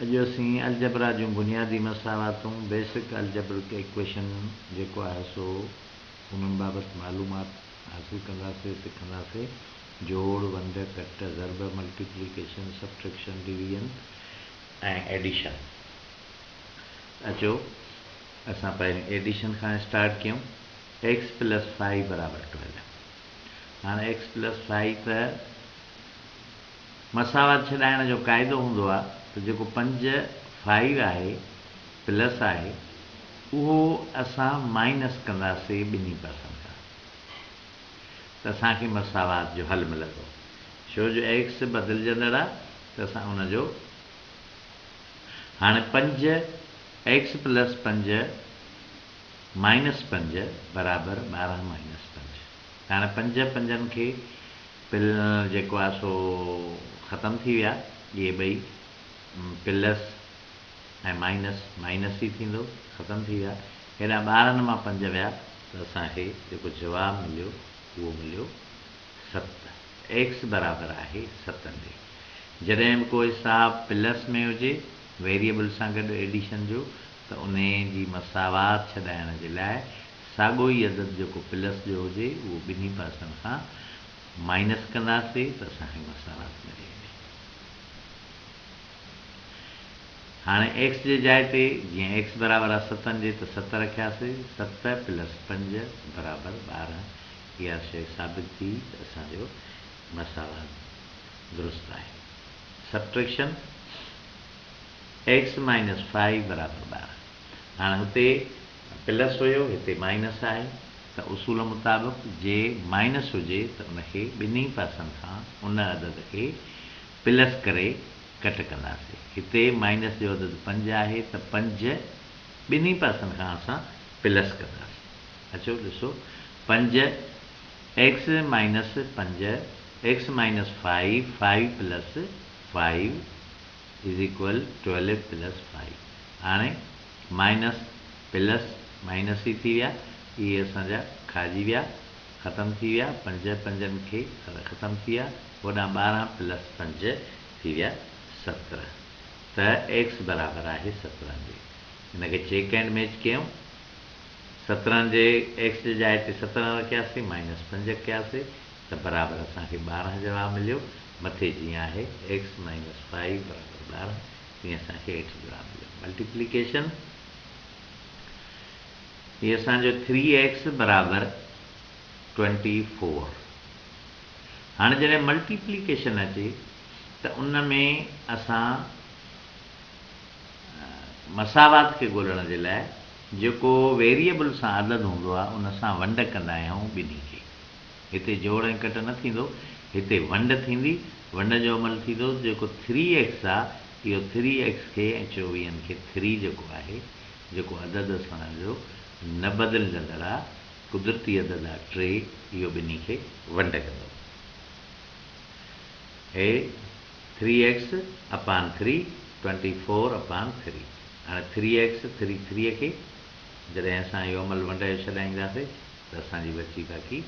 اڄ اسين الجبرا جون بنيادي مساواتون، Basic Algebraic Equation، جيڪو آهي سو انهن بابت معلومات حاصل ڪنداسين، سکنداسين، جوڙ، ونڊ، ڪٽ، ضرب، ملٽيپليڪيشن، سبٽريڪشن، ڊويزن ۽ ايڊيشن. اچو اسان پهرين ايڊيشن کان اسٽارٽ ڪيون، X پلس فائي برابر ٽويلو. هاڻ X پلس فائي ته. مساوات ڇڏائڻ جو قاعدو هوندو آ ته جيڪو پنج فائيو آهي پلس آهي اهو اسان مائنس ڪنداسي ٻنهي پاسن کان ته اسان کي مساوات جو حل ملندو ڇو جو ايڪس بدلجندڙ آ ته اسان ان جو هاڻي پنج ايڪس پلس پنج مائنس پنج برابر ٻارهن مائنس پنج. هاڻي پنج پنجن کي پل جيڪو آهي سو ختم ٿي ويا اهي ٻئي پلس ۽ مائنس مائنس ئي ٿيندو ختم ٿي ويا هيڏانهن ٻارن مان پنج ويا ته اسان کي جيڪو جواب مليو اهو مليو ست ايڪس برابر آهي ستن جي جڏهن به ڪو حساب پلس ۾ هجي ويريبل سان گڏ ايڊيشن جو ته انهي جي مساوات ڇڏائڻ جي لاء ساڳو ئي عدد جيڪو پلس جو هجي اهو ٻنهي پاسن کان مائنس ڪنداسي ته اسان کي مساوات ملي ويندي. هاڻي ايڪس جي جاء تي جيئن ايڪس برابر آهي ستن جي ته ست رکياسي، ست پلس پنج برابر ٻارهن اها شيء ثابت ٿي ته اسان جو مساوات درست آهي. سبٽريڪشن، ايڪس مائنس فائيو برابر ٻارهن هاڻي هتي پلس هيو هتي مائنس آهي ته اصول مطابق جي مائنس هجي ته ان کي ٻنهي پاسن کان ان عدد کي پلس ڪري ڪٽ ڪنداسي هتي مائنس جو عدد پنج آهي ته پنج ٻنهي پاسن کان اسان پلس ڪنداسي اچو ڏسو پنج ايڪس مائنس پنج x minus five five plus five is equal twelve plus five هاڻي مائنس پلس مائنس ئي ٿي ويا، اهي اسان جا کائجي ويا، ختم ٿي ويا، پنج پنجن کي ختم ٿي ويا، هوڏانهن ٻارهن پلس پنج ٿي ويا سترهن، ته ايڪس برابر آهي سترهن جي، ان کي چيڪ اينڊ ميچ ڪيون، سترهن جي ايڪس جي جاء تي سترهن رکياسين، مائنس پنج ڪياسي ته برابر اسان کي ٻارهن جواب مليو، مٿي جيئن آهي، ايڪس مائنس فائيو برابر ٻارهن، هي اسان کي هيٺ جواب مليو ملٽيپليڪيشن هي اسان جو ٿري ايڪس برابر ٽوئنٽي فور هاڻي جڏهن ملٽيپليڪيشن اچي ته ان ۾ اسان مساوات کي ڳولڻ جي لاء جيڪو ويريبل سان عدد هوندو آهي ان سان ونڊ ڪندا آهيون ٻنهي کي هتي جوڙ ۽ ڪٽ نه ٿيندو، هتي ونڊ ٿيندي، ونڊ جو عمل ٿيندو، جيڪو ٿري ايڪس آ، اهو ٿري ايڪس کي ۽ چوويهن کي ٿري جيڪو آهي، جيڪو عدد اسان جو نه بدلجندڙ آ، قدرتي عدد آ ٽي، اهو ٻنهي کي ونڊ ڪندو. هي three x upon three, twenty four upon three. هاڻي ٿري ايڪس ٿري ٿري کي جڏهن اسان اهو عمل ونڊ جو ڇڏائينداسي، ته اسان جي بچي ڪاڪي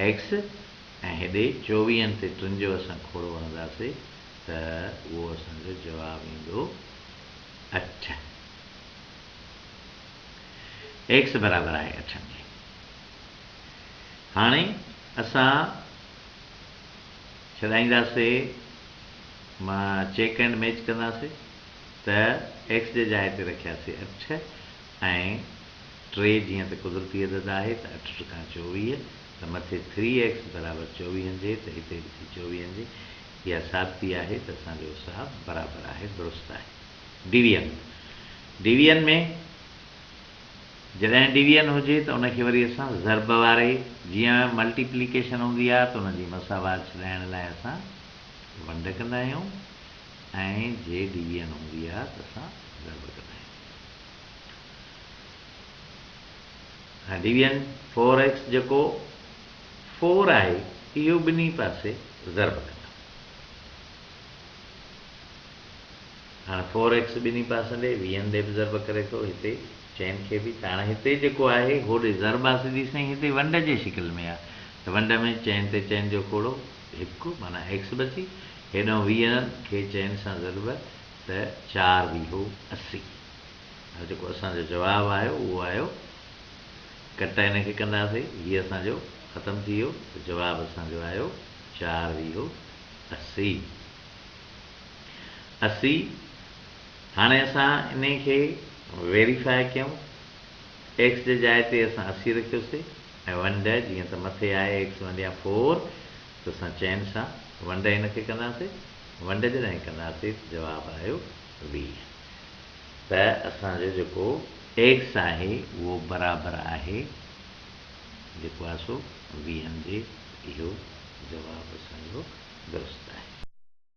ايڪس ۽ هيڏي چوويهن تي ٽن جو اسان کوڙو هڻنداسي ته اهو اسان جو جواب ايندو اٺ. ايڪس برابر آهي اٺن جي. هاڻي اسان ڇڏائينداسي مان چيڪ اينڊ ميچ ڪنداسي ته ايڪس جي جاء تي رکياسي اٺ. ۽ ٽي جيئن ته قدرتي عدد آهي ته اٺ ٽڪا چوويهه ته مٿي ٿري ايڪس برابر چوويهن جي ته هتي به ٿي چوويهن جي اها ثابتي آهي ته اسان جو حساب برابر آهي درست آهي ڊويئن ڊويئن ۾ جڏهن ڊويئن هجي ته ان کي وري اسان ضرب واري جيئن ملٽي پليڪيشن هوندي آهي ته ان جي مساوات ڇڏائڻ لاء اسان ونڊ ڪندا آهيون ۽ جي ڊويئن هوندي آهي ته اسان ضرب ڪندا آهيون. ڊويزن فور ايڪس جيڪو فور آهي اهو ٻنهي پاسي ضرب ڪندم. هاڻ فور ايڪس ٻنهي پاسن ڏي ويهن ڏي به ضرب ڪري ٿو هتي چئن کي به ته هاڻ هتي جيڪو آهي هوڏي ضرب آ سڌي سائين هتي ونڊ جي شڪل ۾ آ ته ونڊ ۾ چئن تي چئن جو کوڙو هڪ معنيٰ ايڪس بچي هيڏانهن ويهن کي چئن سان ضرب ته چار ويهو اسي. هاڻي جيڪو اسان جو جواب آيو اهو آيو ڪٽ هن کي ڪنداسين هي اسان جو ختم ٿي ويو ته جواب اسان جو آيو چار ويهو اسي اسي هاڻي اسان انهي کي ويريفاء ڪيون ايڪس جي جاء تي اسان اسي رکيوسي ۽ ون ڏهه جيئن ته مٿي آهي ايڪس ون يا فور تو سان چين سان ونڊ هن کي ڪنداسين، ونڊ جڏهن ڪنداسين ته جواب آيو ويهه. ته اسان جو جيڪو ٽيڪس آهي اهو برابر آهي جيڪو آهي سو ويهن جي اهو جواب اسان جو درست آهي.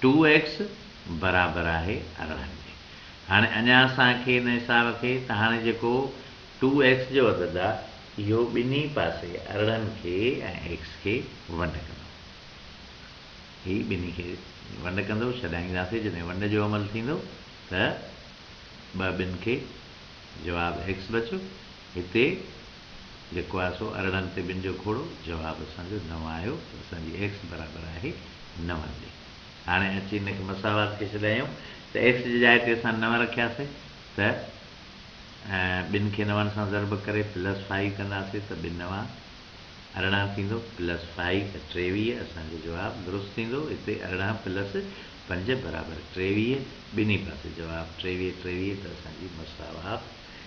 ٽو ايڪس برابر آهي ارڙهن جي. هاڻي اڃا اسان کي ان حساب کي ته هاڻي جيڪو ٽو ايڪس جو عدد آ اهو ٻنهي پاسي ارڙهن کي ۽ ايڪس کي ونڊ ڪندو. هي ٻنهي کي ونڊ ڪندو ڇڏائينداسي جڏهن ونڊ جو عمل ٿيندو ته ٻه ٻن کي جواب ايڪس بچيو هتي. جيڪو آهي سو ارڙهن تي ٻن جو کوڙو، جواب اسان جو نو آيو ته اسان جي ايڪس برابر آهي نون جي. هاڻي اچي ان کي مساوات ڪري ڇڏايون ته ايڪس جي جاء تي اسان نو رکياسي ته ٻن کي نون سان ضرب ڪري پلس فائي ڪنداسي ته ٻه نوا ارڙهن ٿيندو پلس فائي ته ٽيويهه اسان جو جواب درست ٿيندو هتي ارڙهن پلس پنج برابر ٽيويهه ٻنهي پاسي جواب ٽيويهه ٽيويهه ته اسان جي مساوات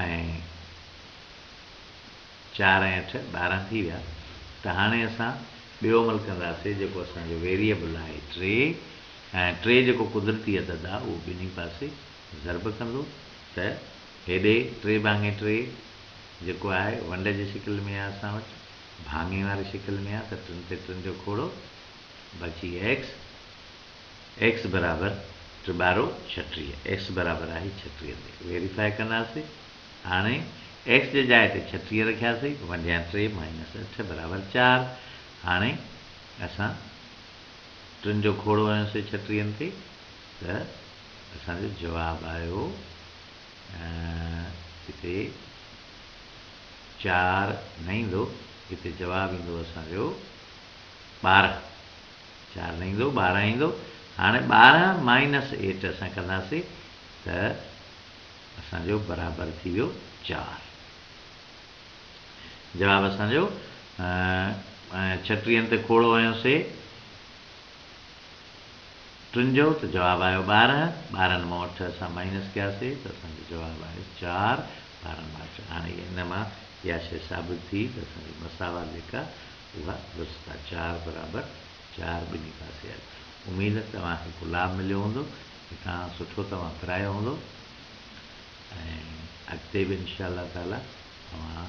۽ چار ۽ اٺ ٻارهن ٿي ويا ته هاڻي اسان ٻيو عمل ڪنداسي جيڪو اسان جو ويريئبل آهي ٽي ۽ ٽي جيڪو قدرتي عدد آ اهو ٻنهي پاسي ضرب ڪندو ته هيڏي ٽي ڀاڱي ٽي جيڪو آهي ونڊ جي شڪل ۾ آ اسان وٽ ڀاڱي واري شڪل ۾ آ ته ٽن تي ٽن جو کوڙو بچي ايڪس ايڪس برابر ٽي ٻارو ڇٽيهه ايڪس برابر آهي ڇٽيهه تي ويريفائي ڪنداسي هاڻي ايڪس جي جاء تي ڇٽيهه رکياسي ونڊيان ٽي مائنس اٺ برابر چار هاڻي اسان ٽن جو کوڙو هنيوسي ڇٽيهن تي ته اسان جو جواب آيو هتي چار نه ايندو هتي جواب ايندو اسان جو ٻارهن چار نه ايندو، ٻارهن ايندو. هاڻي ٻارهن مائنس ايٽ اسان ڪنداسين ته اسان جو برابر ٿي ويو چار. جواب اسان جو ڇٽيهن تي کوڙو هنيو سي ٽن جو ته جواب آيو ٻارهن. ٻارهن مان اٺ اسان مائنس ڪيا سي ته اسان جو جواب آيو چار. ٻارهن مان اٺ هاڻي ان مان اها شيء ثابت ٿي ته اسان جي مساوات جيڪا اها درستا چار برابر چار ٻني پاسي آهي اميد توهان کي گلاب مليو هوندو هتان سٺو توهان پرايو هوندو ۽ اڳتي به انشاء الله تعالي توهان